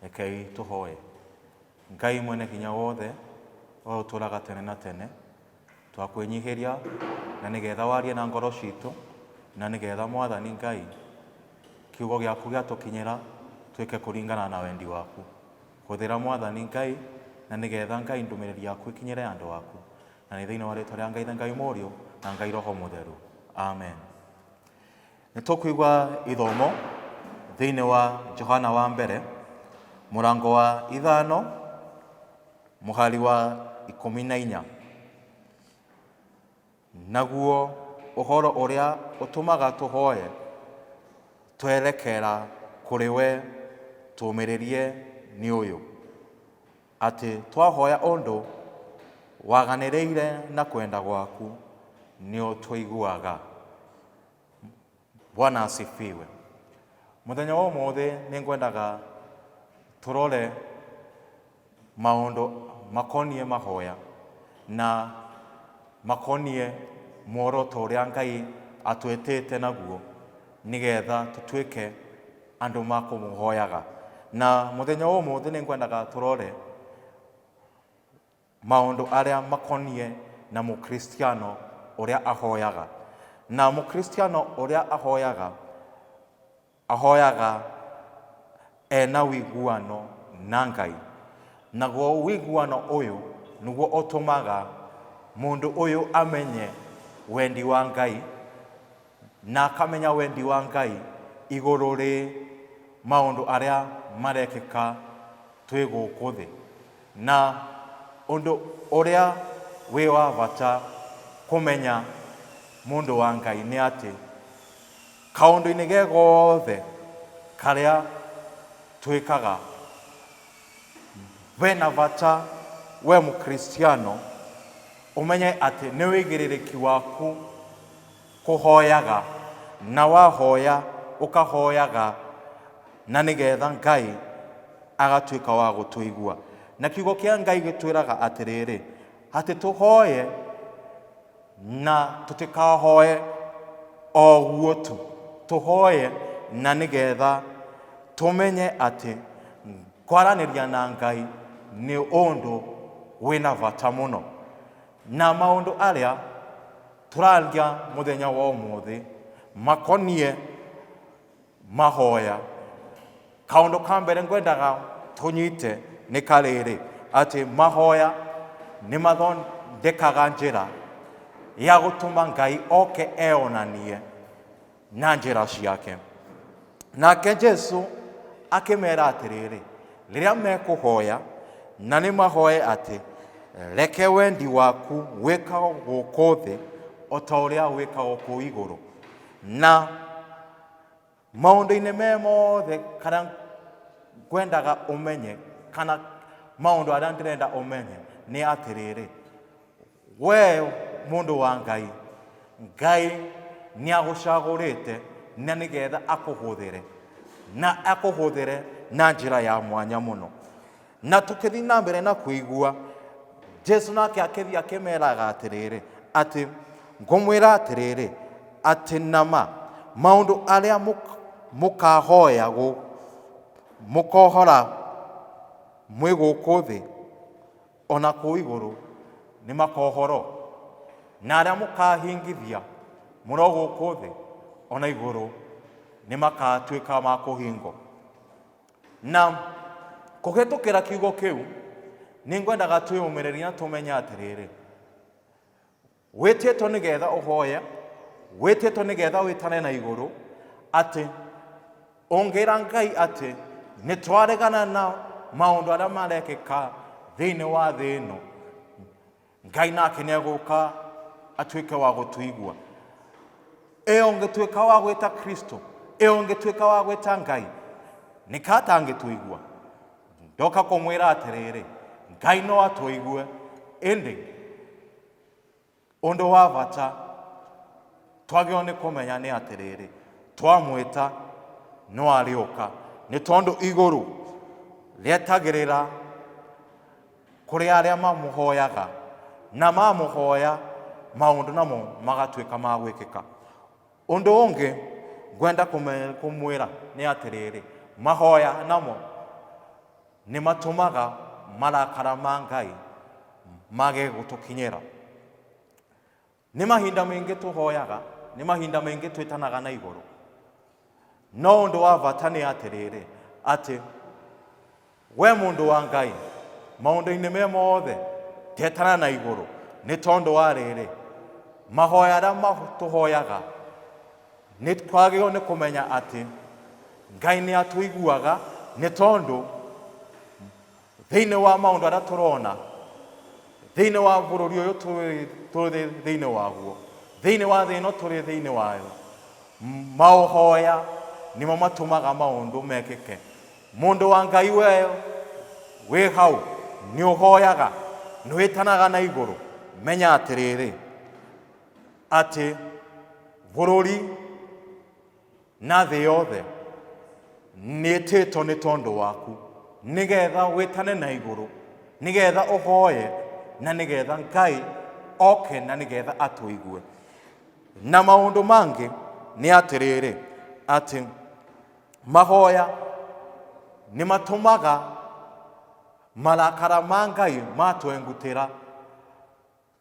Rekei tũhoe. Ngai mwene hinya wothe, we ũtũũraga tene na tene, twakwĩnyihĩria na nĩgetha warie na ngoro citũ, na nĩgetha Mwathani Ngai, kiugo gĩaku gĩatũkinyĩra twĩke kũringana na wendi waku. Hũthĩra Mwathani Ngai, na nĩgetha Ngai ndũmĩrĩri yaku ĩkinyĩre andũ aku. Na nĩ thĩinĩ wa rĩtwa rĩa Ngai, Ithe, Ngai Mũriũ, na Ngai Roho Mũtheru. Amen. Nĩ tũkũigua ithomo thĩinĩ wa Johana wa mbere mũrango wa ithano mũhari wa ikũmi na inya. Naguo ũhoro ũrĩa ũtũmaga tũhoye twerekera kũrĩ we tũũmĩrĩrie nĩ ũyũ, atĩ twahoya ũndũ waganĩrĩire na kwenda gwaku nĩ ũtũiguaga. bwana asifiwe muthenya wa umuthi ningwendaga turore maundu makonie mahoya na makonie muoroto uria ngai atwetete naguo nigetha tutwike andu ma kumuhoyaga na muthenya wa umuthi ningwendaga turore Maũndũ arĩa makoniĩ na Mũkristiano ũrĩa ahoyaga. Na Mũkristiano ũrĩa ahoyaga, ahoyaga e na ũiguano na Ngai. Naguo ũiguano ũyũ nĩguo ũtũmaga mũndũ ũyũ amenye wendi wa Ngai, na akamenya wendi wa Ngai igũrũ rĩ maũndũ arĩa marekĩka twĩ gũkũ thĩ. Na ũndũ ũrĩa wĩ wa bata kũmenya mũndũ wa Ngai nĩ atĩ, kaũndũ-inĩ ge gothe karĩa twĩkaga, ve na bata we Mũkristiano ũmenye atĩ nĩ wĩigĩrĩrĩki waku. Kũhoyaga, na wahoya ũkahoyaga na nĩgetha Ngai agatuĩka wa gũtũigua. Na kiugo kĩa Ngai gĩtwĩraga atĩrĩrĩ, atĩ tũhoye na tũtikahoye o ũguo tu, tũhoye na nĩgetha tũmenye atĩ kwaranĩria na Ngai nĩ ũndũ wĩna bata mũno. Na maũndũ arĩa tũraria mũthenya wa ũmũthĩ makoniĩ mahoya. Kaũndũ ka mbere ngwendaga tũnyite nĩ karĩrĩ, atĩ mahoya nĩ mathondekaga njĩra ya gũtũma Ngai oke eyonanie na njĩra ciake nake jesu akĩmera atĩrĩrĩ rĩrĩa mekũhoya na nĩ mahoe atĩ reke wendi waku wĩkagwo gũkũ thĩ o ta ũrĩa wĩkagwo kũu igũrũ na maũndũ-inĩ me mothe kana ngwendaga ũmenye kana maũndũ arĩa ndĩrenda ũmenye nĩ atĩrĩrĩ We mũndũ wa Ngai, Ngai nĩagũcagũrĩte na nĩgetha akũhũthĩre, na akũhũthĩre na njĩra ya mwanya mũno. Na tũkĩthiĩ na mbere na kũigua, Jesu nake akĩthiĩ akĩmeraga atĩrĩrĩ, atĩ ngũmwĩra atĩrĩrĩ, atĩ nama maũndũ arĩa mũk- mũkahoya gũ- mũkohora mwĩ gũkũ thĩ O na kũu igũrũ nĩ makohoro, na arĩa mũkaahingithia mũno gũkũ thĩ, o na igũrũ nĩ makaatuĩka ma kũhingo. Na kũhĩtũkĩra kiugo kĩu, nĩ ngwendaga twĩyũmĩrĩrie na tũmenye atĩrĩrĩ, wĩtĩtwo nĩ getha ũhoye wĩtĩtwo nĩ getha wĩtane na igũrũ atĩ ũngĩra ngai atĩ nĩ twaregana na maũndũ arĩa marekĩka thĩinĩ wa thĩ ĩno ngai nake nĩ egũka atuĩke wa gũtũigua ĩ ũngĩtuĩka wa gwĩta kristo ĩ ũngĩtuĩka wa gwĩta ngai nĩ ka atangĩtũigua ndoka kũmwĩra atĩrĩrĩ ngai no atũigue ĩndĩ Ũndũ wa bata twagĩrĩirwo nĩ kũmenya nĩ atĩrĩrĩ, twamwĩta no arĩũka, nĩ tondũ igũrũ rĩetagĩrĩra kũrĩ arĩa mamũhoyaga na mamũhoya maũndũ namo magatuĩka ma gwĩkĩka. Ũndũ ũngĩ ngwenda kũmwĩra nĩ atĩrĩrĩ, mahoya namo Nĩ matũmaga marakara ma Ngai mage gũtũkinyĩra. Nĩ mahinda maingĩ tũhoyaga, nĩ mahinda maingĩ twĩtanaga na igũrũ. No ũndũ wa bata nĩ atĩrĩrĩ, atĩ we mũndũ wa Ngai, maũndũ-inĩ me mothe, tetana na igũrũ, nĩ tondũ wa rĩrĩ, mahoya arĩa tũhoyaga Nĩ twagĩrĩirwo nĩ kũmenya atĩ Ngai nĩ atũiguaga nĩ tondũ thĩinĩ wa maũndũ arĩa tũrona thĩinĩ wa bũrũri ũyũ tũrĩ- tũrĩ thĩinĩ waguo thĩinĩ wa thĩ ĩno tũrĩ thĩinĩ wayo m- maũhoya nĩmo matũmaga maũndũ mekĩke mũndũ wa ngai we wĩ hau nĩ ũhoyaga nĩ wĩtanaga na igũrũ menya atĩrĩrĩ atĩ bũrũri na thĩ yothe nĩtĩtwo nĩ tondũ waku nĩgetha wĩtane na igũrũ nĩgetha ũhoye na nĩgetha ngai oke na nĩgetha atũigue na maũndũ mangĩ nĩ atĩrĩrĩ atĩ mahoya nĩ matũmaga marakara ma ngai matwengutĩra